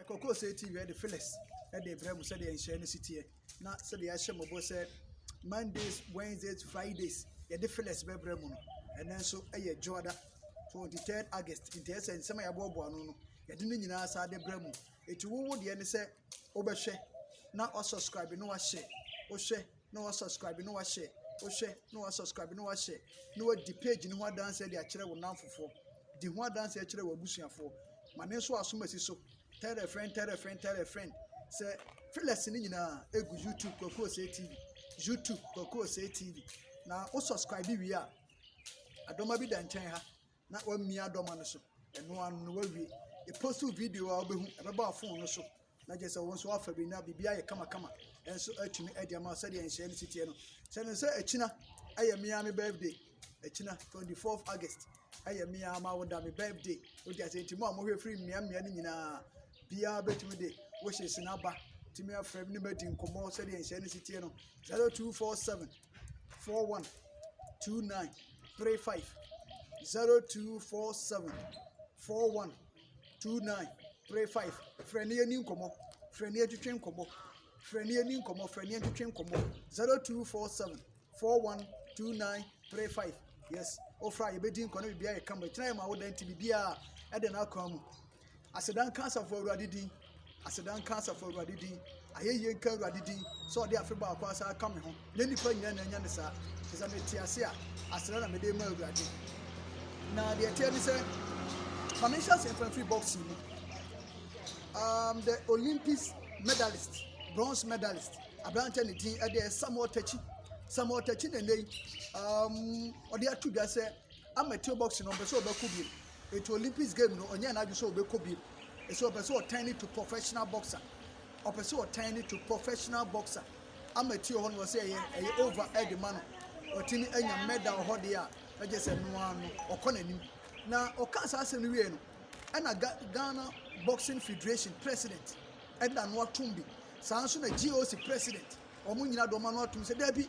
Ɛkɔkɔɔ sɛɛ TV de Phyllis de rebrɛ mo sɛdeɛ nhyiaeɛ no si teɛ na sɛdeɛ yɛahyɛ mo bɔ sɛ Mondays, Wednesdays, Fridays yɛde Phyllis bɛbrɛ mo no. Ɛnɛ nso yɛ Dwoada 23 August nti ɛsɛ nsɛm a yɛaboaboa ano no yɛde ne nyinaa saa de brɛ mo. Eti wowo deɛ ne sɛ wobɛhwɛ na wasubscribe na wahyɛ wohwɛ na wa subscribe na wa share wohwɛ na wa subscribe na wa share na wadi page no ho adanseɛ de akyerɛ wo nanfofoɔ di ho adanseɛ kyerɛ wo abusuafoɔ ma ne nso asom asi so tell a friend tell a friend tell a friend sɛ filas no nyinaa egu youtube kwakuo sɛ tv youtube kwakuo sɛ tv na wo subscribe wie a adɔma bi da nkyɛn ha na wamia adɔma no so. Ɛno ano no wawie. Epost video a wobɛhu ɛbɛba wo phone no so na kyerɛ sɛ wɔn nso afa bi na biribi ayɛ kamakama nso atumi adi ama sɛdeɛ nhyɛn no si teɛ no. Sɛ no sɛ akyina ɛyɛ mmea me birthday akyina 24 August ɛyɛ mmea ama woda me birthday wodi ase nti mu a mohwɛ firi mmea mmea no nyinaa biara bɛtumi de wohyɛ sinaba tumi afrɛ ne bɛdi nkɔmmɔ sɛdeɛ nhyɛn no si teɛ no 0247 four one two nine three five zero two four seven four one two nine three five frɛ ne ani nkɔmɔ frɛ ne atwitwe nkɔmɔ frɛ ne ani nkɔmɔ frɛ ne atwitwe nkɔmɔ zero two four seven four one two nine three five yes ofra yɛbɛdi nkɔ ne biribiara yɛ kama ɛkyina yɛ ma woda nti biribiara ɛde no akwan mu Aseda nka Asafo Awurade din. Aseda nka Asafo Awurade din. Ayɛyie nka Awurade din sɛ ɔde afe baako asan aka me ho. Nyɛ nnipa nyinaa na anya ne saa. Te sɛ mete ase a, aseda na mede ma Awurade. Na deɛ ɛteɛ ne sɛ, ma menhyɛ ase mfa mfiri boxing mu. Um, the Olympics medalist, bronze medalist, aberanteɛ ne din ɛdeɛ Samuel Takyi. Samuel Takyi na ɛnɛ yi, um, ɔde ato dwa sɛ Amateur boxing no ɔmpɛ sɛ ɔbɛkɔ bio nti Olympics game no ɔnyɛɛ n'adwene sɛ ɔbɛkɔ bio ɛsɛ ɔpɛ sɛ ɔtan ne to professional boxer ɔpɛ sɛ ɔtan ne to professional boxer amateur hɔ no ɔsɛ ɛyɛ ɛyɛ over ɛde ma no ɔtumi anya medal hɔ deɛ a ɛgye sɛ no ara no ɔkɔ n'anim na ɔka saa asɛm no wie no ɛna Ghana boxing federation president ɛna no atom bi saa nso na GOC president wɔn nyinaa de wɔn ano atom sɛ daabi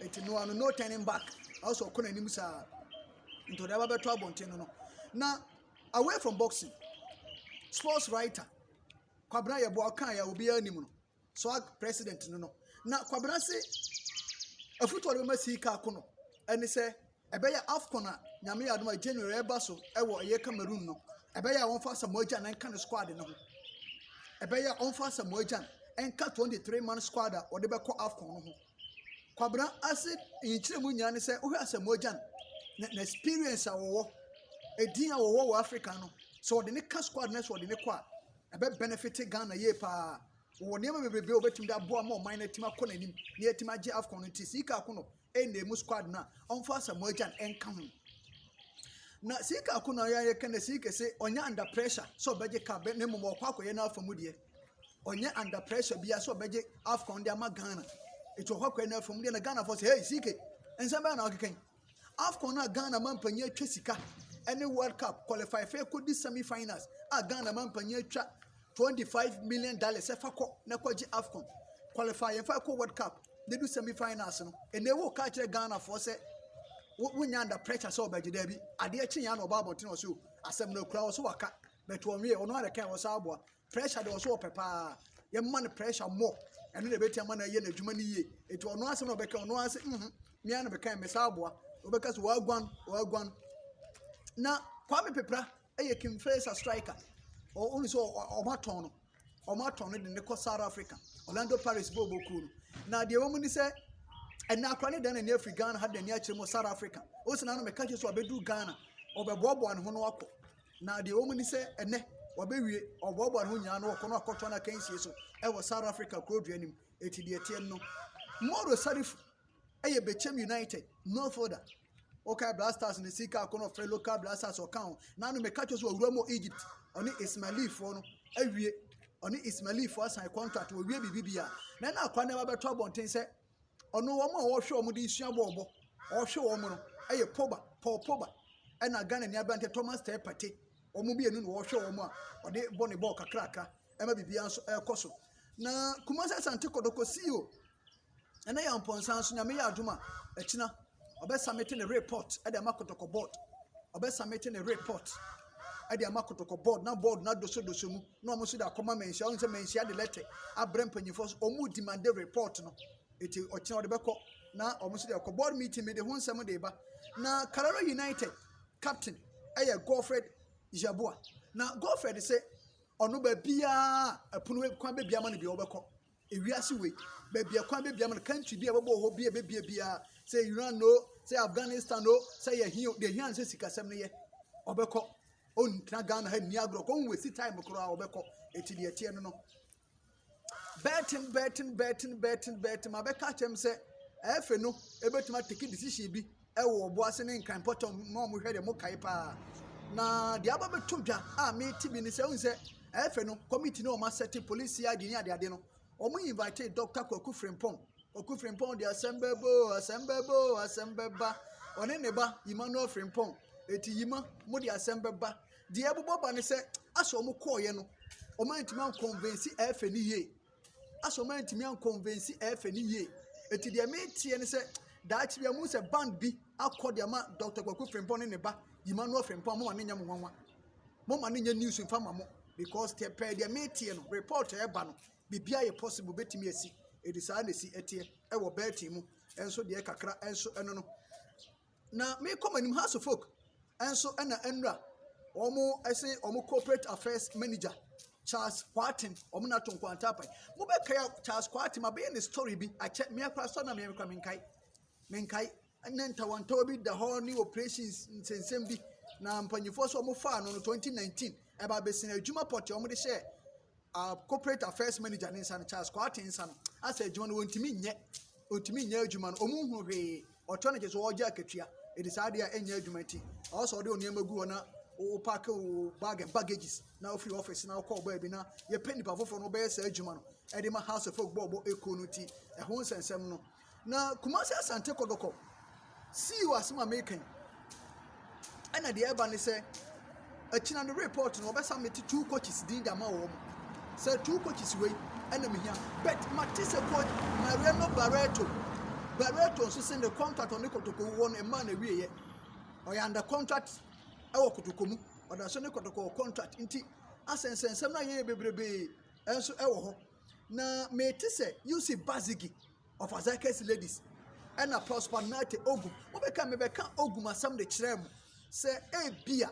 Enti Noa no no turning back ɔsɛ ɔkɔ n'anim saa nti ɔde aba bɛtɔ abɔnten no no na away from boxing sports writer kwabena yɛ boa ɔka yɛ obiara anim no swag president no no na kwabena se afutuo a ɔde bɛma sii kaa ko no ɛne sɛ Ɛbɛyɛ Afcon a Nyame yɛ adom a January ɛba so ɛwɔ ɛyɛ Cameroon no ɛbɛyɛ a wɔnfa Asamoah Gyan ɛnka ne squad no ho ɛbɛyɛ a wɔnfa Asamoah Gyan ɛnka 23 man squad a wɔde bɛkɔ Afcon no ho Kwabena ase nyikyerɛ mu nyinaa ne sɛ wohwɛ Asamoah Gyan na na experience a wɔwɔ edin a wɔwɔ wɔ Africa no sɛ wɔde ne ka squad no sɛ wɔde ne kɔ a ɛbɛ benefit Ghana yie paa wɔwɔ nneɛma bebrebe a wɔbɛtumi de aboa ma ɔman no atumi akɔ n'anim na yɛatumi agye Afcon no nti sika ako no ɛnna mu squad no a ɔmfa Asamoah Gyan nka ho na sika ako na ɔyɛ ayɛ ka na sika sɛ ɔnyɛ under pressure sɛ ɔbɛgye ka bɛ ne mmom ɔkɔ akɔyɛ n'afa mu deɛ ɔnyɛ under pressure bia sɛ ɔbɛgye afcon de ama ghana ɛti ɔkɔ akɔyɛ n'afa mu deɛ na ghana fɔ sɛ hey sika nsɛm bɛyɛ na ɔkeka yi afcon a ghana ma mpanyin atwa sika ɛne world cup qualify fɛ kɔdi semi finals a ghana ma mpanyin atwa twenty five million dollars ɛfa kɔ na kɔgye afcon qualify yɛn fa kɔ world cup ne du semi finals no ɛnna ewu ka kyerɛ ghana fɔ sɛ wonya under pressure sɛ ɔbɛgye dɛbi adeɛ kye yɛn na ɔba abɔnten ɔsɛ o asɛm no ekura ɔsɛ waka bɛtɔ ɔnwie ɔno ara kan ɔsɛ aboa pressure de ɔsɛ ɔpɛ paa yɛn ma no pressure mɔ ɛno na ebɛti ama na ɛyɛ n'adwuma no yie etu ɔno asɛm na ɔbɛka ɔno ara sɛ mhm mmea na bɛka mmesa aboa ɔbɛka sɛ wɔaguan wɔaguan na kwame pepra. Ɛyɛ Kim Fesa striker. Ɔno sɛ ɔmo atɔn no. Ɔmo atɔn no de ne kɔ South Africa. Orlando Paris bɔ ɔbɔ kuo no. Na deɛ ɛwɔ mu ne sɛ ɛnna akora ne dan n'ani afiri Ghana ha de n'ani akyerɛ mu South Africa. Osi na no mɛka kyerɛ so ɔbɛduru Ghana. Ɔbɛboaboa ne ho no akɔ. Na deɛ ɛwɔ mu ne sɛ ɛnɛ ɔbɛwie ɔboaboa ne ho nyinaa no ɔkɔ no akɔtɔ no akansie so ɛwɔ South Africa kuro dua nim. Eti deɛ ɛteɛ no. Moro Sarifu ɛyɛ Bechem United no fielder. Wokae Black Stars ne Sika Akonɔfrɛ local Black Stars ɔka ho. Na no meka kyerɛ so ɔwura mu Egypt. Ɔne Ismailifoɔ no awie. Ɔne Ismailifoɔ asan contract wɔwie biribi bi a. Na na akwa nneɛma bɛtɔ abɔnten sɛ ɔno wɔn a wɔhwɛ wɔn de nsua bɔɔlbɔ. Ɔhwɛ wɔn no ɛyɛ Poba, Paul Poba ɛna Ghana ni aberanteɛ Thomas Teh Partey. Wɔn mmienu na wɔhwɛ wɔn a ɔde bɔ ne bɔɔl kakrakra ɛma biribiara nso ɛrekɔ so. Na Kumasi Asante Kɔtɔkɔ CEO Ɛnɛ yɛ mpɔnsa so Nyame yɛ adom a ɛkyena ɔbɛ samete ne report ɛde ama kɔtɔkɔ board ɔbɛ samete ne report ɛde ama kɔtɔkɔ board na board na doso doso mu na wɔn nso de akɔma mɛnhyia wɔn sɛ mɛnhyia de lɛtɛ abrɛ mpanyinfoɔ so wɔn demande report no eti ɔkyena ɔde bɛkɔ na wɔn nso de akɔ board meeting mi de ho nsɛm de ba na Karara United captain ɛyɛ Godfred Yeboah na Godfred sɛ ɔno baabiara ɛpono kwan baabiara ma no bi ɔbɛkɔ. Ewiase wei, baabi a kwan bɛbia ma no, country bi a ɛbɛbɔ wɔ hɔ, bi a ɛbɛbia biara, sɛ ɛyɛ Iran o, sɛ ɛyɛ Afghanistan o, sɛ ɛyɛ he o, deɛ ɛhia no sɛ sikasɛm no yɛ, ɔbɛkɔ. Ɔntena Ghana ha nni agorɔ, kɔ nwasi time koraa ɔbɛkɔ. Ɛti deɛ ɛteɛ no no. Bɛɛten, bɛɛten, bɛɛten, bɛɛten, bɛɛten, ma bɛka kyɛm sɛ ɛfɛ no, ɛbɛtumi atake decision bi wɔ ɔbo ase ne nkran pɔtɔ ma wɔn hwɛ deɛ mo kae paa na deɛ aba bɛto dwa a mete bi ne sɛ wohu sɛ ɛfɛ no committee ne wɔn asɛte police cid ne adeade no wɔn invite dr kwaku frimpong kwaku frimpong de asɛm bɛbɔ asɛm bɛbɔ asɛm bɛba ɔne ne ba emmanuel frimpong eti yima mo de asɛm bɛba deɛ ɛbobɔ ba ne sɛ asɛ wɔn kɔɔyɛ no wɔn antumi ankɔnvɛnsi ɛfɛ ne yie asɛ ɔmo antumi ankɔnvɛnsi ɛfɛ ne yie eti deɛ meteɛ ne sɛ daakye bi a mo sɛ band bi akɔ deɛ ma dɔkta kwaku frimpɔ ne ne ba emmanuel frimpɔ mo ma ne nyɛ mo nwanwa mo ma ne nyɛ news nfa ma mo because tɛ pɛɛ deɛ meteɛ no report ɛɛba no biribi ayɛ possible betumi asi edi saa na esi ɛteɛ ɛwɔ bɛɛtin mu ɛnso deɛ kakra ɛnso ɛno no. Na mekɔ mo anim house of folk nso na nwura wɔn ɛse wɔn corporate affairs manager charles kwaten wɔn na ato nkwanta apan mo bɛ kaya charles kwaten ma bɛyɛ ne story bi akyɛ mmea kora sɔ na mmea kora menkae menkae ne ntawɔntawɔ bi da hɔ ne operations nsensɛm bi na mpanyinfoɔ so wɔn faa no no twenty nineteen ɛba abɛsɛn adwuma pɔtɛ wɔn de hyɛ uh, corporate affairs manager ne nsa no charles kwate nsa no asɛ adwuma no wɔntumi nyɛ ɔntumi nyɛ adwuma no ɔmu hu hwee ɔtɔ no gye so ɔgye akatua ɛde saa adeɛ a ɛnyɛ adwuma nti ɔwɔ sɛ ɔde wo nneɛma gu hɔ na wopake wo bag and baggages na wofiri office na wokɔɔ baabi na yɛpɛ nnipa foforɔ no wobɛyɛ saa adwuma no ɛde ma house of folk bɔɔbɔ ɛkuo no nti ɛho nsɛnsɛm no Na Kumasi Asante Kɔtɔkɔ sii wɔ asɛm a meka yi. Ɛna deɛ ɛba ne sɛ, akyina no report no wɔbɛ submit two coaches din de ama wɔn. Sɛ two coaches wei ɛna mehia. But mate sɛ coach Mariano Barreto. Barreto nso sɛ ne contract ɔne Kɔtɔkɔ wɔ no mmaa na wieɛ. Ɔyɛ under contract ɛwɔ Kɔtɔkɔ mu. Ɔda so ne Kɔtɔkɔ wɔ contract nti asɛnsɛnsɛm no ayɛ yɛ bebrebee ɛnso ɛwɔ hɔ. Na mete sɛ Yusuf Bazigi of Azakes Ladies ɛna Prosper Nate Ogum. Wobɛka mebɛka Ogum asɛm de kyerɛ mo sɛ ebia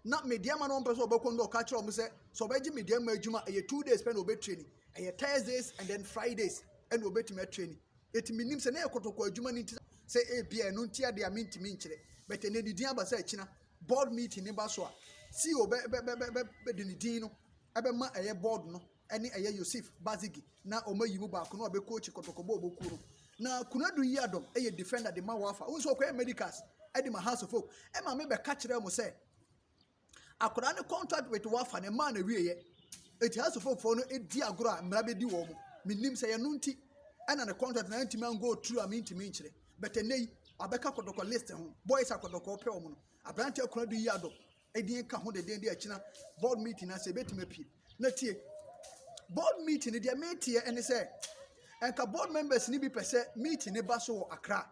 na medeɛ ma no ɔmpɛ sɛ ɔbɛkɔ no ɔka kyerɛ ɔmo sɛ sɛ ɔbɛgye medeɛ ma adwuma ɛyɛ two days pɛ na ɔbɛtrani ɛyɛ Thursdays and then Fridays ɛna ɔbɛtumi atrani ɛti menim sɛ na ɛyɛ kɔtɔkɔ adwuma no nti sɛ ebia ɛno nti adeɛ a mentumi nkyerɛ bɛtɛ na ɛdidin aba sɛ akyina board meeting ne ba so a CEO bɛ bɛ bɛ bɛ bɛ de ne din no ɛbɛma ɛyɛ board no ɛne ɛyɛ Yosif Bazigi na wɔn ayi mu baako na ɔbɛ coach kɔtɔkɔ bɔ ɔbɔ kuo no na Kunadu yi adɔm ɛyɛ defender de ma wafa wɔn nso ɔkɔyɛ medicals ɛde ma house of hope ɛma me bɛka kyerɛ mo sɛ akwadaa ne contract with wafa ne maa na wie yɛ eti house of hope fo no edi agorɔ a mmara bɛdi wɔn menim sɛ yɛn no nti ɛna ne contract na ntumi ango turu a mentumi nkyerɛ bɛtɛ nne yi abɛka kɔtɔkɔ list ho boys akɔtɔkɔ pɛ wɔn no aberanteɛ Kunadu yi adɔm ɛdi nka ho deden de akyina board meeting na sɛ ebetumi apue na tie board meeting no deɛ meteɛ ɛne sɛ ɛnka board members ni bi pɛ sɛ meeting ne ba so wɔ akra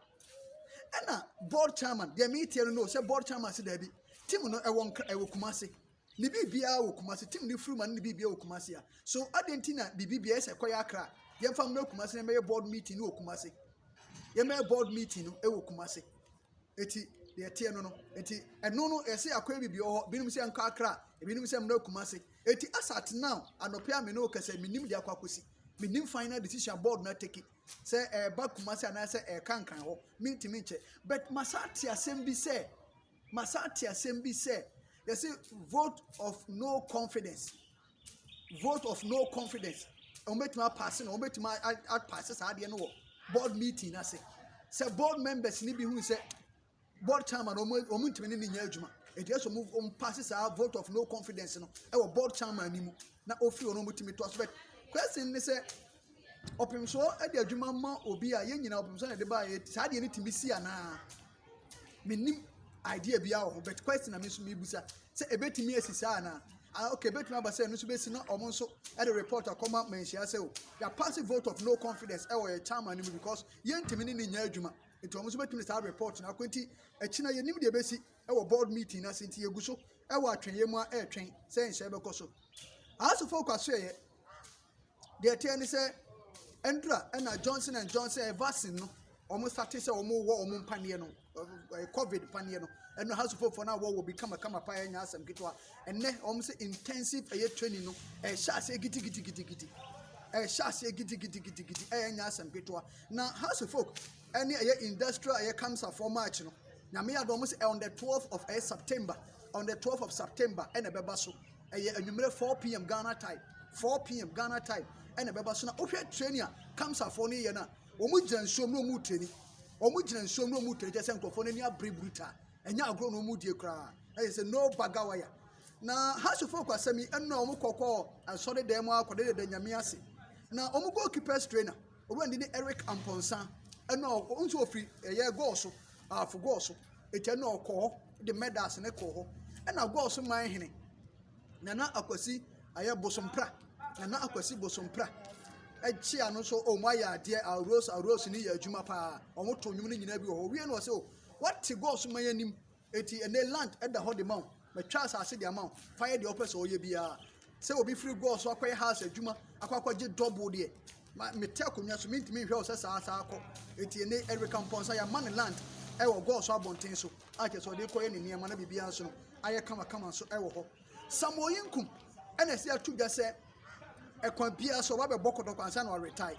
ɛna board chairman deɛ meteɛ no no sɛ board chairman se daabi team no ɛwɔ nkra ɛwɔ kumase ne biribiara wɔ kumase team ne firima ne biribiara wɔ kumase a so adeɛ nti na biribiara ɛsɛ kɔyɛ akra yɛmfa mmɛ kumase na ɛmɛyɛ board meeting no wɔ kumase yɛmɛyɛ board meeting no ɛwɔ kumase. Eti deɛ ɛteɛ no no, eti ɛno no yɛsɛ akɔ yɛ biribi wɔ hɔ, binom sɛ nkɔ akra, ebinom sɛ mmra kumase. Eti as at now, anɔpɛ a me ne wo kasa yi, menim deɛ akɔ akɔsi. Menim final decision board no ateki sɛ ɛreba kumase anaasɛ ɛreka nkran hɔ, mentumi nkyɛ. But masan ate asɛm bi sɛ, masan ate asɛm bi sɛ, yɛse vote of no confidence. vote of no confidence wɔn bɛtumi apaase no wɔn bɛtumi apaase saa adeɛ no wɔ board meeting ase sɛ board members ni bi hu sɛ board chairman wɔn wɔn ntumi ne ne nyɛ adwuma eti ɛsɛ wɔn wɔn paase saa vote of no confidence no ɛwɔ board chairman ni mu na ofiri wɔn wɔn tumi to aso bɛ question ne sɛ ɔpemsoɔ ɛde adwuma ma obi a yɛn nyinaa ɔpemsoɔ na ɛde ba yɛ saa adeɛ no tumi si anaa. mennim idea biara wɔ ho but question na me nso mebisa sɛ ɛbɛtumi asi saa anaa ah okay ɛbɛtumi aba sɛ ɛno nso bɛsi na wɔn nso ɛde report akɔma manhyia sɛ o yɛ pass vote of no confidence ɛwɔ yɛ chairman no mu because yɛntumi ne ne nyɛ adwuma nti wɔn nso bɛtumi saa report na akɔ nti ɛkyina yɛnim deɛ ɛbɛsi ɛwɔ board meeting na se nti yɛgu so ɛwɔ atwɛnyɛ mu a ɛretwɛn sɛ nhyɛ bɛkɔ so asofo kwaso ɛyɛ Deɛ ɛteɛ ne sɛ, ɛndura ɛna Johnson and Johnson ɛyɛ vaccine no, wɔn sate sɛ wɔn wɔ wɔn mpaneɛ no, ɛɛ covid paneɛ no, ɛno ha supofoɔ no a wɔwɔ bi kamakama paa ɛnyɛ asɛm ketewa. Ɛnɛ wɔn sɛ intensive ɛyɛ training no, ɛhyɛ aseɛ gidigidigidigidi, ɛhyɛ aseɛ gidigidigidigidi ɛyɛ nyɛ asɛm ketewa. Na ha supofoɔ ɛne ɛyɛ industrial ɛyɛ kamsafoɔ march no, nyame yɛ adom wɔn sɛ on the 12th of ɛyɛ September, on the 12th of September ɛna ɛbɛba so. ɛyɛ anwummerɛ four pm Ghana time four pm Ghana time ɛna ɛbɛba so na wohwɛ training a kamsafoɔ no yɛ no a wɔn gyina nsuom na wɔn training wɔn gyina nsuom na wɔn training kyɛ sɛ nkurɔfoɔ no ani abere bruta ɛnyɛ agorɔ na wɔn die koraa ɛyɛ sɛ no baga waya na hasofo kɔ asɛm yi ɛnna wɔn kɔkɔ asɔre dan mu akɔde deda nyame ase na wɔn goalkeepers trainer owurandi ne Eric Amponsah ɛnna wɔn nso ofiri ɛyɛ goal so afo goal so. Agya no ɔkɔ hɔ de mɛdas no kɔɔ hɔ. Ɛna gɔs man hene nana akwasi ayɛ bosompra nana akwasi bosompra ɛkyea no nso wɔn ayɛ adeɛ aros aros ne yɛ adwuma paa wɔn to nnwom no nyinaa bi wɔ hɔ wie no wɔ sɛ o wate gɔs man anim eti ɛnɛ land ɛda hɔ de ma wɔn. Matwa asase de ama wo. Fa yɛ deɛ wopɛ sɛ ɔyɛ biara. Sɛ obi firi gɔɔ so akɔyɛ house adwuma akɔ akɔgye dɔbo deɛ, ma mete akonnwa so mentumi nhwɛ wo sɛ saa saa kɔ. Eti ɛnɛ Erika Mpɔnsa yɛama no land ɛwɔ gɔɔ so abɔnten so a kyerɛ sɛ ɔde kɔyɛ ne nneɛma na biribiara nso no ayɛ kamakama nso ɛwɔ hɔ. Samuel Yinkum ɛna ɛsɛ ato dwa sɛ kwan biara so, ɔbɛba abɛbɔ kɔtɔkɔ ansa na ɔaretire.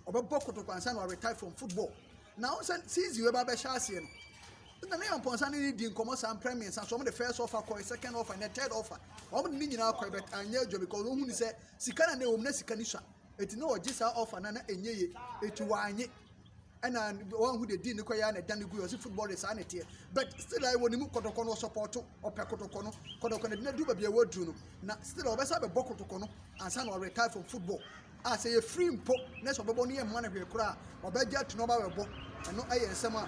Ɔbɛbɔ kɔtɔkɔ ansa na ɔaretire from football. Na wohu sɛ season wei ba abɛhyɛ aseɛ no, nna ne Amponsah ne no di nkɔmmɔ saa mprɛ mmiɛnsa so. Wɔde first offer kɔe, second offer, ɛnna third offer. Wɔde ne nyinaa kɔe but anyɛ adwuma because wɔhu ne sɛ sika na na ɛwɔ mu na sika no sua. Enti na wɔgye saa offer no a na ɛnyɛ yie, enti wɔannye. ɛna wɔn ho de di ne kɔ yɛ na ɛda ne gu yɛ ɔsi football de saa na ɛteɛ but still a ɛwɔ ne mu kɔtɔkɔ no ɔsɔpɔtɔ ɔpɛ kɔtɔkɔ no kɔtɔkɔ no ɛdina du baabi a ɛwɔ aduru no na still a ɔbɛsa bɛbɔ kɔtɔkɔ no ansa na ɔretire from football a sɛ yɛ free mpo na sɛ ɔbɛbɔ no yɛ mma no hwee koraa ɔbɛgye ato na ɔba bɛbɔ ɛno ɛyɛ nsɛm a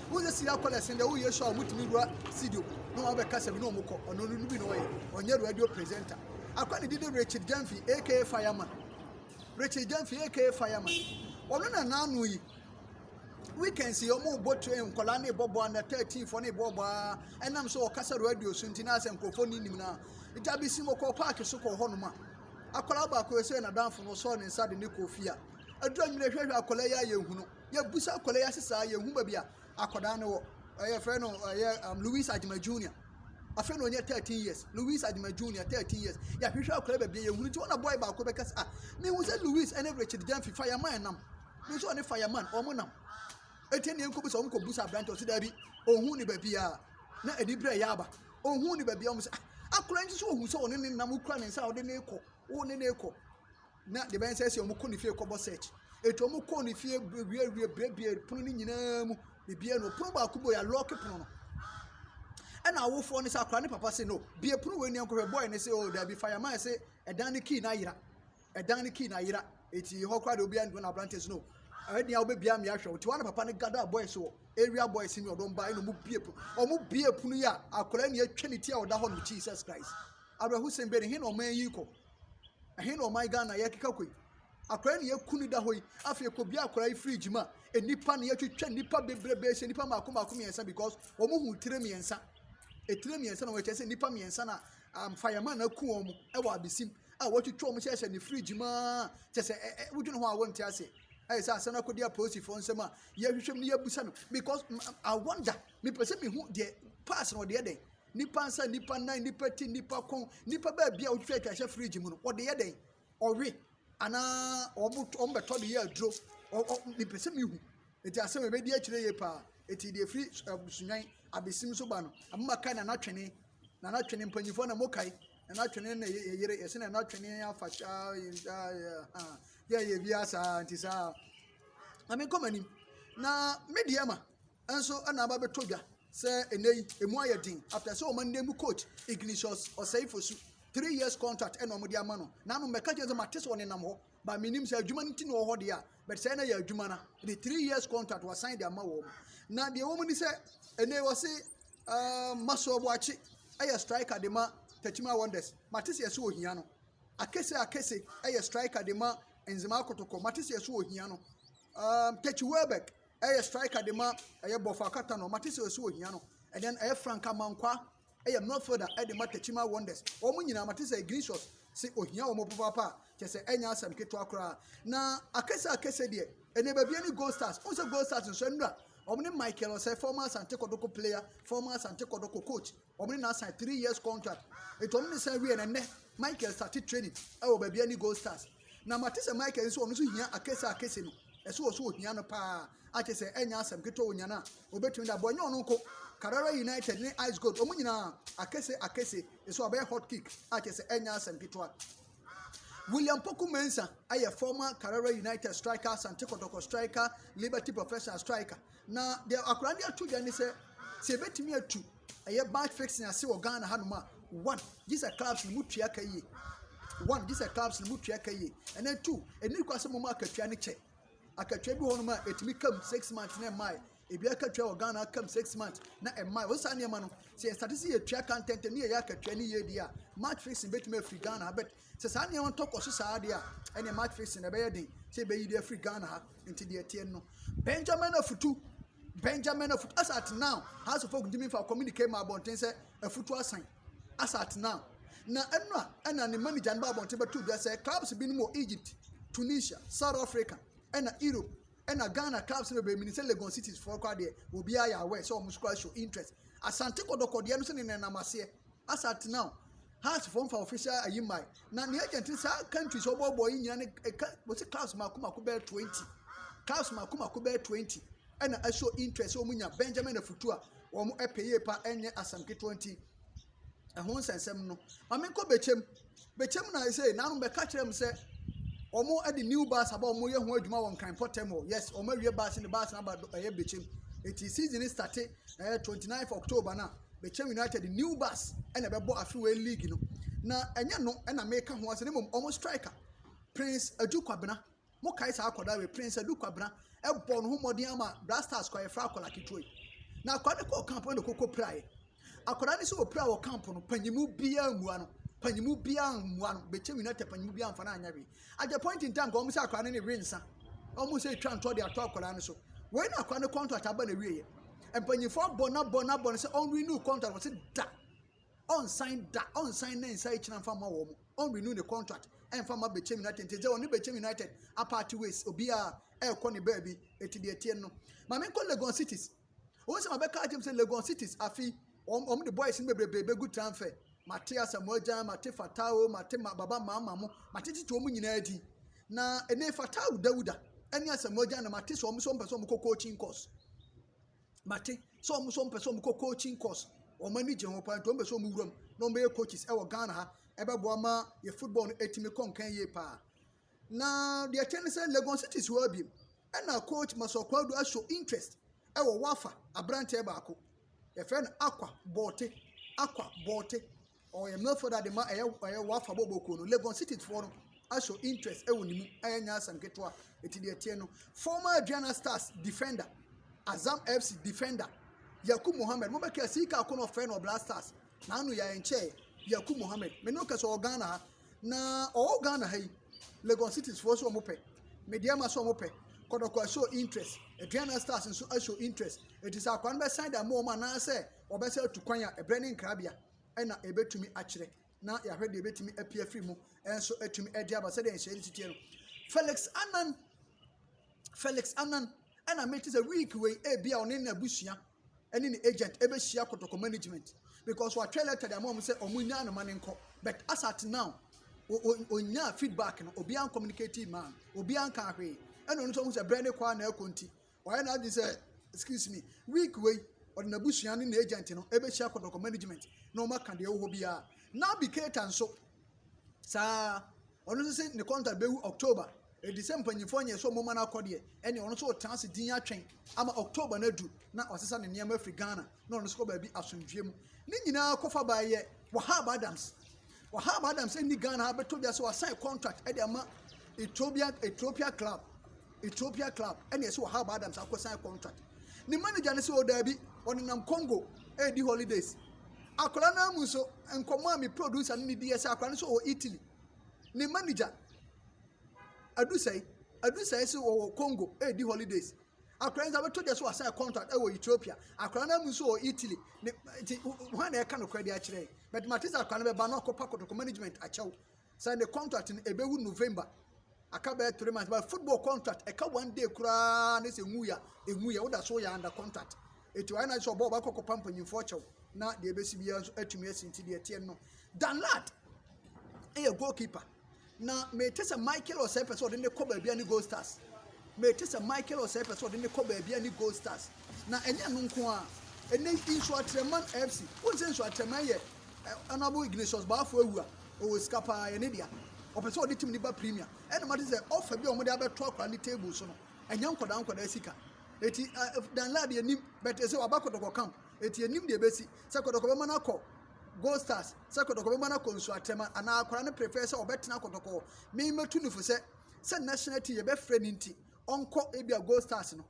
wosɛ siri akɔ lɛsin dɛ wo yesu a wɔtumi wura studio na wɔn abɛkasa bi na wɔn kɔ ɔno no bi na ɔyɛ ɔnyɛ radio presenter akɔ ne didi richard jamfi aka fireman richard jamfi aka fireman ɔno na n'ano yi weekends yi wɔn bɔ train nkɔla ne bɔ bɔ ana thirteen fɔ ne bɔ bɔ aa ɛnam so ɔkasa radio so nti na asɛ nkurɔfoɔ ne nim na gya bi si mu kɔ paaki so kɔ hɔnom a akɔla baako yɛ sɛ n'adanfo no sɔɔ ne nsa de ne kɔ fie a adura nwene hwɛhwɛ akɔla yi ayɛ hunu. Yɛbusa akwadaa yi ase saa, yɛhu baabi a akwadaa no wɔ. Yɛfrɛ no ɛyɛ um, Louis Adjuma Junior. Afei na ɔnyɛ 13 years. Louis Adjuma Junior, 13 years. Yɛahwehwɛ akwadaa baabi a yɛhunu nti, wɔn na boy baako bɛka sɛ, ah, mehu sɛ Louis ne Richard Gyamfi fireman nam. Me nso ɔne fireman, wɔn nam. Eti ne nkɔbu sɛ wɔn kɔbu sɛ aberante ɔsɛ daabi, ɔhu ne baabi a na ani berɛ yɛ aba. Ɔhu ne baabi a wɔn sɛ, ah, akwadaa nso so ɔhu sɛ ɔne ne nam, wokura ne nsa a ɔde ne kɔ, wo ne ne kɔ. Na deɛ ɛbɛyɛ ne sɛ sɛ wɔkɔ ne fie rekɔbɔ search. Enti wɔkɔɔ ne fie wiewie buebue pono no nyinaa mu biribiara no pono baako bɔ yɛalɔɔke pono no. Ɛna awofoɔ no sɛ akwadaa ne papa se no bie pono wei nneɛma nkɔhwɛ bɔɔl no se o oh, daabi fa yɛn ma yɛ se ɛdan no kii no ayera ɛdan no kii no ayera eti hɔ koraa deɛ obiara ntoma na aberante so no ɛni a wobɛbia mmea hwɛ wo ti wɔn na papa no gada boys wɔ area boys ni ɔdɔm ba ɛna wɔn bie pono wɔn bie pono yi a akwadaa ni atwa ne ti a ɔda hɔ no Jesus Christ awerɛhosɛm bɛ ne he na wɔn ayi kɔ. Ɛhe na ɔman Ghana yɛkeka kɔ yi? Akwadaa na yɛku no da hɔ yi. Afei yɛkɔbue akwadaa yi fridge mu a, nnipa na yɛatwitwa nnipa bebrebe ahyia, nnipa mmaako mmaako mmiɛnsa because wɔhu tire mmiɛnsa. Etire mmiɛnsa na wɔyɛ kyerɛ sɛ nnipa mmiɛnsa na mfayɛma na aku wɔn wɔ abesim a wɔatwitwa wɔn hyɛhyɛ ne fridge mu ara kyɛ sɛ ɛ ɛ wodwene ho a wonte aseɛ. Ayɛ sɛ asɛm no akɔdi apolisifoɔ nsam a yɛhwehwɛ mu no yɛabusa no because I wonder mepɛ sɛ mehu deɛ pass na ɔde yɛ dɛn Nnipa nsa, nnipa nan, nnipa ti, nnipa kɔn, nnipa baabi a wotwitwa atwa hyɛ fridge mu no, wɔde yɛ dɛn? Ɔwe anaa wɔn wɔn bɛtɔ de yɛ aduro. Ɔ ɔ mepɛ sɛ mehu. Eti asɛm a ebedi akyire yie paa. Eti deɛ efiri ɛɛ sunyan abesim so ba no, ama ma kae nana twene. Nana twene mpanyinfoɔ na mo kae. Nana twene na yɛ yere yɛsɛ nana twene afa saa yɛ ah yɛ yɛ bi asaa nti saa. Maame nkɔ m'anim na me deɛ ma. nso na aba abɛtɔ dwa sɛ ɛnnɛ yi emu ayɛ den after sɛ wɔn nna mu coach Ignatius Osei-Fosu three years contract na wɔde ama no na ano mmɛka kyerɛ sɛ mate sɛ ɔnenam hɔ ba menim sɛ adwuma no ti na ɔwɔ hɔ deɛ a but sɛ na yɛ adwuma no de three years contract wasan de ama wɔn na deɛ wɔn ni sɛ ɛnɛ wɔ se uh, Masoro Boakye ɛyɛ striker de ma Tatima Wonders mate sɛ yɛsɛ ohia no Akese Akese ɛyɛ striker de ma Nzema Kotoko mate sɛ yɛsɛ ohia no um, Techi Welbeck Ɛyɛ striker de ma ɛyɛ bɔfo akata no. Mate sɛ ɔsi ohia no. And then ɛyɛ Frank Amankwa. Ɛyɛ midfielder de ma Techiman Wonders. Wɔn nyinaa mate sɛ Ignatius se ohia wɔn papaapa a kyɛ sɛ ɛnyɛ asɛm ketewa koraa. Na akese akese deɛ ɛnɛ baabi ne Gold Stars. Wɔn sɛ Gold Stars nso anura wɔn ne Michael Osei, former Asante Kodoko player, former Asante Kodoko coach. Wɔn ne no asan three years contract. Nti wɔn ne no san wie na nnɛ Michael starte training ɛwɔ baabi ɛne Gold Stars. Na mate sɛ Michael nso ɔno nso hia akese akese no. Ɛso wɔ so ohia no paa. Akyɛ sɛ ɛnyɛ asɛm ketewa wɔ nyana a obetumi da bɔ ɛnyɛ ɔno nko. Carrara United ne Ice Gold wɔn nyinaa akese akese ɛso abɛyɛ hot kick akyɛ sɛ ɛnyɛ asɛm ketewa. William Poku Mensah ayɛ former Carrara United striker, Asante Kotoko striker, Liberty Professional striker. Na deɛ akwadaa de ato dwa ne sɛ, sɛ yɛbɛtumi atu ɛyɛ match fixing ase wɔ Ghana hanom a, one, gye sɛ clubs no mu tua ka yie. One, gye sɛ clubs no mu tua ka yie. And then two, ɛni kwa sɛ moma akatua no kyɛ. Akatua bi wɔ hɔnom a ɛtumi kam six months na ɛmmae. Ebi akatua wɔ Ghana akam six months na ɛmmae. Wɔ saa nneɛma no, sɛ yɛsate sɛ yɛtua ka ntɛntɛm ne yɛyɛ akatua no yie deɛ a, match fixing bɛtumi afiri Ghana ha. But Sɛ saa nneɛma no tɔ kɔ so saa ara deɛ a, ɛnneɛ mattress no, ɛbɛyɛ den sɛ yɛbɛyi de afiri Ghana ha. Nti deɛ ɛteɛ no, Benjamin Afutu, Benjamin Afutu, as at now, House of Folk ntumi nfa communique ma abɔnten sɛ Afutu asan, as at now. Na ɛno a, ɛna ne manager no ba abɔnten bɛto dwa sɛ clubs binom wɔ Egypt, Tunisia, South Africa, ɛna Europe, ɛna Ghana clubs no bebree, menim sɛ Legon Cities foɔ koraa deɛ, obiara yɛ aware sɛ wɔn nso koraa show interest. Asante Kɔtɔkɔ deɛ no nso ne nenam aseɛ. Asa tena hɔ. House foɔ nfa official ayi mmae. Na ne agent no saa countries a ɔbɔɔbɔɔ yi nyinaa ne ɛka wɔsi clubs mako mako bɛyɛ twenty clubs mako mako bɛyɛ twenty ɛna ɛso interest wɔn nya Benjamin Afutu a wɔn ɛpɛ yie pa ɛnyɛ asɛm ketewa nti ɛho nsɛnsɛm no maame nkɔ bɛkyɛm. Bɛkyɛm na ayɛ sɛ nanom bɛka kyerɛɛ me sɛ wɔn de new bus aba wɔn yɛ ho adwuma wɔ nkran pɔtɛm hɔ yes wɔn awie bus ne bus n'aba ɛyɛ bɛkyɛm eti season ne starte ɛyɛ eh, twenty nine october na bɛkyɛm united new bus ɛna ɛbɛbɔ afewe league no na ɛnyɛ no ɛna meka ho asɛ ne mom wɔn striker prince adu kwabena Mo kae saa akwadaa wei pren sɛ Luke Kwabena ɛbɔ ne ho mmɔden ama Black Stars kɔ yɛfrɛ akwadaa ketewa yi. Na akwadaa no kɔɔ camp na ɔkɔkɔ piraeɛ. Akwadaa no sɛ ɔpira wɔ camp no panyimu biara mmua no panyimu biara mmua no bɛkyɛm United panyimu biara mfa no anyɛ hwee. At the point in time ka wɔn sɛ akwadaa no ne we nsa wɔn sɛ ɛtwa ntɔ de ato akwadaa no so. Wei na akwadaa no contract aba na ɛwieɛ. Mpanyinfoɔ abɔ no abɔ no abɔ no sɛ ɔnrenew contract wɔsi da Ɔnsan da, ɔnsan ne nsa ekyina mfa mma wɔn, ɔnrenew ne contract mfa mma Bechem United, ntsi dze ɔnye Bechem United apart ways, obiara rekɔ ne beebi, ntsi deɛ ɛteɛ no. Ma menkɔ Legon Cities, wɔn sɛ mabɛka akyerɛ mu sɛ Legon Cities afe yi wɔn wɔn de boys no bebrebe bɛgu tranfer, mate Asamoah Gyan, mate Fattah o, mate ma Baba Maama mo, matetete wɔn nyinaa din, na ɛnɛ Fattah Dawuda ɛne Asamoah Gyan na mate sɛ wɔn sɛ wɔn pɛ sɛ wɔn kɔ coaching course. Mate sɛ wɔn nso wɔpɛ sɛ wɔkɔ coaching course. Wɔn ani gye ho paa nti wɔn pɛ sɛ wɔn wura mu na wɔn bɛyɛ coaches ɛwɔ Ghana ha. Ɛbɛboa ma yɛ football no atumi kɔ nkan yie paa. Na deɛ ɛkyɛ ne sɛ Legon City si hɔ abiem. Ɛna coach Masɔ Kwadu aso interest ɛwɔ Wafa aberanteɛ baako. Yɛfrɛ no Akwa Bɔɔte. Akwa Bɔɔte. Ɔyɛ mmɛfo dade ma ɛyɛ ɛyɛ wafa bɔbɔ kuo no. Legon cities foɔ no ahyɛ interest ɛwɔ ne mu ɛyɛ nyɛ asɛm ketewa. Eti deɛ teɛ no former Aduana Stars defender Azam FC defender Yakub Mohammed mo bɛka sii kaa ko na ɔfrɛ no Black Stars na ano yɛ nkyɛɛ Yakub Mohammed me ne ɔkasa ɔwɔ Ghana ha na ɔwɔ Ghana ha yi Legon cities foɔ so ɔmo pɛ medeɛ ma so ɔmo pɛ kɔdɔkɔ ahyɛ interest Aduana Stars nso ahyɛ interest eti sɛ akwa no bɛsan da mo ɔmo anaasɛ Wɔbɛsan atu kwan a ɛberɛ ne nkrabea na ɛbɛtumi akyerɛ na yɛahwɛ deɛ ɛbɛtumi apue afiri mu nso atumi de aba sɛdeɛ nhyɛn no si teɛ no. Felix Anan Felix Anan ɛna mete sɛ week wei ebi a ɔne n'abusua ɛne ne agent ɛbɛhyia kotoko management because watwerɛ letter de ama wɔn sɛ wɔn nya anoma ne nkɔ but as at now ɔnyaa feedback no obiara communicate man obiara nka ahwee ɛna ɔno nso ɔhu sɛ berɛ ne kɔ a na ɛkɔ nti Wayɛ n'adwene sɛ, excuse me, week wei ɔde n'abusua ne n'agent no ɛbɛhyia kɔtɔkɔ management na wɔn aka deɛ ɛwɔ hɔ biara. Naby Keita nso saa ɔno nso sɛ ne contract bɛwu October ɛdi sɛ mpanyinfoɔ nyɛ sɛ ɔmoma no akɔ deɛ ɛne ɔno nso ɔtena ase din atwɛn ama October no adu na wasesa ne nneɛma afiri Ghana na ɔno nso kɔ baabi asomdwoeɛ mu ne nyinaa kɔfa baayɛ Wahab Adams Wahab Adams nni Ghana ha bɛtɔ dwa sɛ wasan contract de ama Ethiopia Ethiopia club Ethiopia club ɛna ɛsɛ Wahab Adams akɔsan contract ne manager no sɛ ɔdaabi oh, ɔnenam Congo ɛredi eh, holidays akwadaa no amu nso nkɔmɔ a me producer no ne di yɛ sɛ akwadaa no nso wɔ Italy ne manager adusɛe adusɛe sɛ wɔwɔ Congo ɛredi eh, holidays akwadaa nso abɛtɔ dwa sɛ wasan contract wɔ ethiopia akwadaa no mu nso wɔ italy ne nti wɔn na ɛka no kora de akyerɛ yi but mate sɛ akwadaa no bɛba no akɔpa kɔtɔkɔ management akyɛw sɛ ne contract no ɛbɛwu november aka bɛyɛ three months but football contract ɛka one day koraa ne sɛ nwu ya enwu ya woda so yɛ under contract etu ayɛ na sɛ ɔbɔ ɔbɛkɔ kɔpa mpanyinfoɔ kyɛw na deɛ ɛbɛsi biara nso atumi asi nti deɛ ɛteɛ no danlad ɛyɛ goalkeeper. Na mete sɛ Michael a ɔsɛe pɛ sɛ ɔde ne kɔ baabi a ne Gold Stars. Mete sɛ Michael a ɔsɛe pɛ sɛ ɔde ne kɔ baabi a ne Gold Stars. Na ɛnyɛ ɛno nko ara. Ɛnnɛ yi, Nsoatreman FC, wohu sɛ Nsoatreman yɛ Honourable Ignatius Baafoɔ awu a, ɔwɔ sika pa ara, ɛyɛ ne dea. Ɔpɛ sɛ ɔde tim no ba Premier. Ɛnna mate sɛ offer bi a wɔde abɛto akwadaa no table so no, ɛnyɛ nkwadaa nkwadaa sika. Enti Dan Lad yɛnim, but ɛsɛ ɔaba Kɔtɔkɔ camp. Enti yɛnim deɛ ɛbɛsi, sɛ Kɔtɔkɔ bɛma no akɔ Gold Stars sɛ Kɔtɔkɔ bɛma no akɔ nsu atɛm anaa akwadaa no prefer sɛ ɔbɛtena Kɔtɔkɔ. Me mɛtu no fo sɛ sɛ national team yɛbɛfrɛ no nti ɔnkɔ ebi a Gold Stars no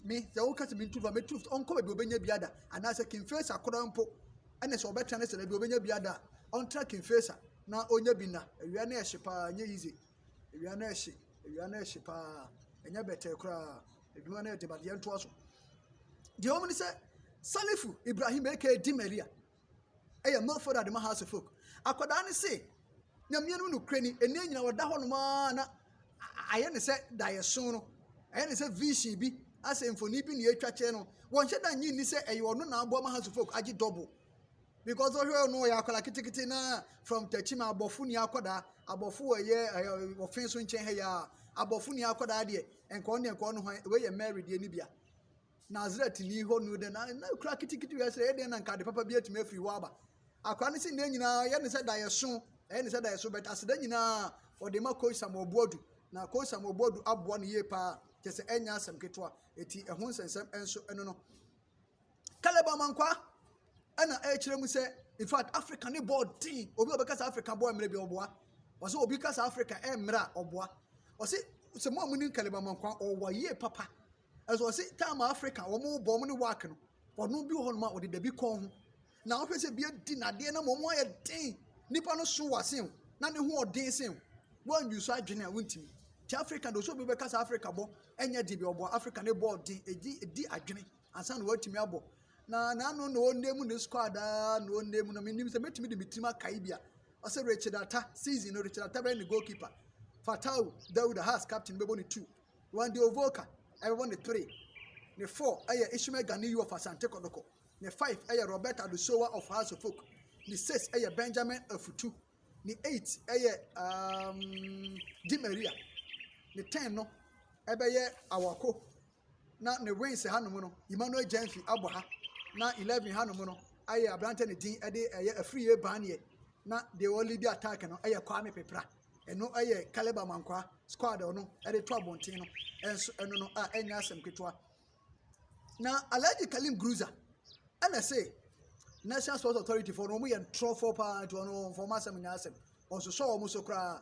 me sɛ woka sɛ mentu fa mɛtu no ɔnkɔ baabi ɔbɛnya bi ada anaasɛ King Faisal akɔda mpo ɛne sɛ ɔbɛtena ne sɛ baabi ɔbɛnya bi ada a ɔntra King Faisal na ɔnya bi na awia no ɛhye paa nyɛ easy Awia no rehye, awia no rehye pa ara, ɛnyɛ bɛtɛɛ koraa. Adwuma no yɛ den but yɛntoa so. Deɛ ɛwɔ mu ne sɛ, Salifu Ibrahim aka Di Maria yɛ Milford Adema House of Folk. Akwadaa no se, Nyame no nokorɛni, ɛnna nyina ɔda hɔnom ara na ayɛ ne sɛ daeɛso no, ayɛ ne sɛ vision bi, asɛ mfoni bi na ɛtwa kyerɛ no. Wɔnhyɛ da nnye nni sɛ ɛyɛ ɔno na aboa ma House of Folk agye double. Because ɔhwɛ ɔno ɔyɛ akwadaa ketekete na from Techiman abɔfo ni akwadaa abɔfo wɔ ɛyɛ ɛyɛ ɔfin so nkyɛn ha yi a abɔfo ni akwadaa deɛ nka ɔno deɛ nka ɔno hwan wei yɛ Mary deɛ ne bia Nazaret ni hɔ no deɛ na na kura ketekete wia sɛ ɛyɛ deɛ na nka ade papa bi atumi afiri hɔ aba akwadaa no si ne nyinaa ɛyɛ ne sɛ da yɛ so ɛyɛ ne sɛ da yɛ so bɛt aseda nyinaa ɔde ma kɔyi sam ɔboadu na kɔyi sam ɔboadu aboa no yie paa kyɛ sɛ ɛnyɛ asɛm ketewa eti ɛho nsɛnsɛm nso ɛno no. Caleb Amankwa ɛna ɛrekyerɛ mu sɛ in fact Africa ne bɔɔl den obi a ɔbɛka sɛ Africa bɔɔl mmerɛ bi ɔboa ɔsɛ obi ka sɛ Africa ɛmmerɛ a ɔboa ɔsɛ sɛ mo a mo nim Caleb Amankwa ɔwɔ yie papa ɛsɛ ɔsɛ time Africa wɔn bɔ wɔn ne work no ɔno bi wɔ hɔ nom a ɔde dabi kɔn ho na ɔhwɛ sɛ bi adi nadeɛ na wɔn ayɛ den nipa no so wɔ asen na ne ho ɔden sen wɔn nwi so adwene a wɔntumi ti Africa de ɔsɛ obi bɛka sɛ Africa bɔ ɛnyɛ de bi ɔbɔ Africa ne bɔɔl den edi edi adwene. ansa na watumi abɔ. Na n'ano na ɔnna mu ne squad ara na ɔnna mu no menim sɛ mɛtumi de me tirim akae bi a ɔsɛ Richard Atta season no Richard Atta bɛyɛ ne goalkeeper Fatau Dawuda Hearts captain bɛbɔ ne two Wendy Ovoka ɛbɛbɔ ne three ne four ɛyɛ Ishmael Ganiyu of Asante Kɔdɔkɔ ne five ɛyɛ Robert Adusowa of Hearts of Folk ne six ɛyɛ Benjamin Afutu ne eight ɛyɛ um, Di Maria ne ten no ɛbɛyɛ Awako na ne wings hanom no, Emmanuel Gyamfi abɔ ha, na eleven hanom no ayɛ aberanteɛ ne din de ɛyɛ afiri yɛ baneɛ na deɛ ɔlidi attack no yɛ Kwame Pepra ɛno yɛ Caleb Amankwaa squad ɔno de to abɔnten no ɛnso ɛno no a ɛnyɛ asɛm ketewa na Alhaji Kalim Gruza ɛna se National Sports Authority fɔ no wɔn yɛ ntorɔfoɔ paa nti wɔn wɔn fɔm asɛm nyɛ asɛm wɔn nso sɔ wɔn so koraa.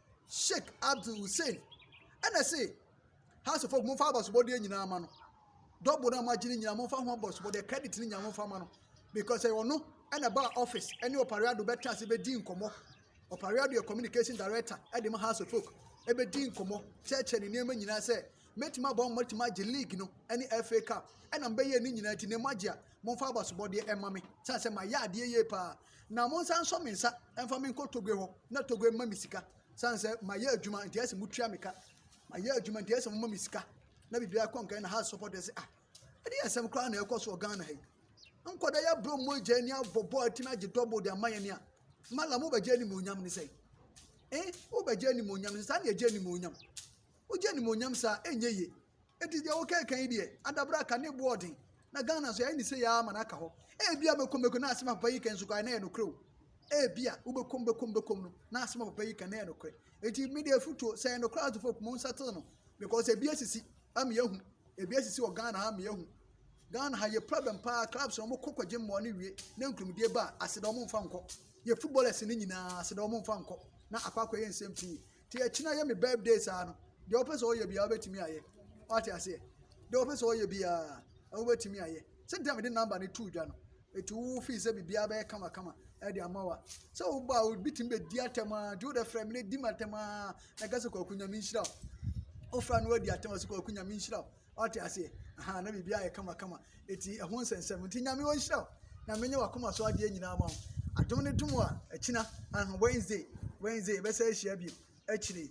Sheikh Abdul Hussein ɛna se House of Folk momfa abɔsobɔdeɛ nyinaa ma no dɔbo no a moagye no nyinaa momfa ho abɔsobɔdeɛ credit no nyinaa momfa ma no because ɛyɛ ɔno ɛna ba office ɛne ɔpareado bɛtra ase bɛdi nkɔmmɔ ɔpareado yɛ communication director ɛde ma House of Folk ɛbɛdi nkɔmmɔ kyerɛkyerɛ ne nneɛma nyinaa sɛ mɛtumi abɔ mo mɛtumi agye league no ɛne FA Cup ɛna mbɛyɛ ne nyinaa ti na mo agye a momfa abɔsobɔdeɛ ɛma me sane sɛ mayɛ adeɛ yie paa na monsan nsɔ me nsa mfa me nkɔ Togoe hɔ na Togoe mma me sika sane sɛ mayɛ adwuma nti ɛsɛ motua me ka mayɛ adwuma nti ɛsɛ moma me sika na biribiara kɔ nkan na ha support ɛsɛ ah ɛde yɛ asɛm koraa na ɛkɔ so wɔ Ghana ha yi nkɔda yɛ aburo mu agya ani abɔ bɔɔl atumi agye dɔbɔ de ama yɛn ni a mala mobɛgye animuonyam ne sɛ eh wobɛgye animuonyam ne sɛ saa na yɛgye animuonyam Wogye animuonyam saa, ɛnyɛ yie. Enti deɛ woka ɛka yi deɛ, adabra ka ne boɔ ɔden. Na Ghana nso yɛayɛ ne sei ara ma no aka hɔ. Ebia mɛkom mɛkom na asɛm a papa yi kan nso koraa na ɛyɛ nokorɛ o. Ebia wobɛkom bɛkom bɛkom no na asɛm a papa yi kan na ɛyɛ nokorɛ. Enti me deɛ afutuo sɛ ɛyɛ nokorɛ a tofo mo nsatel no because ebi asisi ama yɛahu. Ebi asisi wɔ Ghana ha ama yɛahu. Ghana ha yɛ problem paa clubs na wɔkɔ kɔgye mmoa no wie na nkurumdie ba a aseda wɔn mfa nkɔ. Yɛ footballers no nyinaa aseda wɔn mfa nkɔ na akɔ akɔyɛ nsɛm pii. Te akyi na yɛ me birthday saa no deɛ wopɛ sɛ ɔyɛ biara wobɛtumi ayɛ wate aseɛ deɛ wopɛ sɛ ɔyɛ biara wobɛtumi ayɛ sɛ nti a mede number no too dwa no ɛti wo fii sɛ biribiara bɛyɛ kamakama ɛde ama wa sɛ woba a obi tumi bɛdi atɛm a nti wode frɛ me no di me atɛm a na ɛka sɛ kwaku nyame nhyira wo wofra no wadi atɛm a sɛ kwaku nyame nhyira wo Ɔte aseɛ ahaa na biribi ayɛ kama kama eti ɛho nsɛnsɛm nti nyame ɔnhyira wo na menyɛ wakoma so adeɛ nyinaa ma wo adom ne dom a ɛkyina aha Wednesday Wednesday bɛsɛ ahyia bio akyire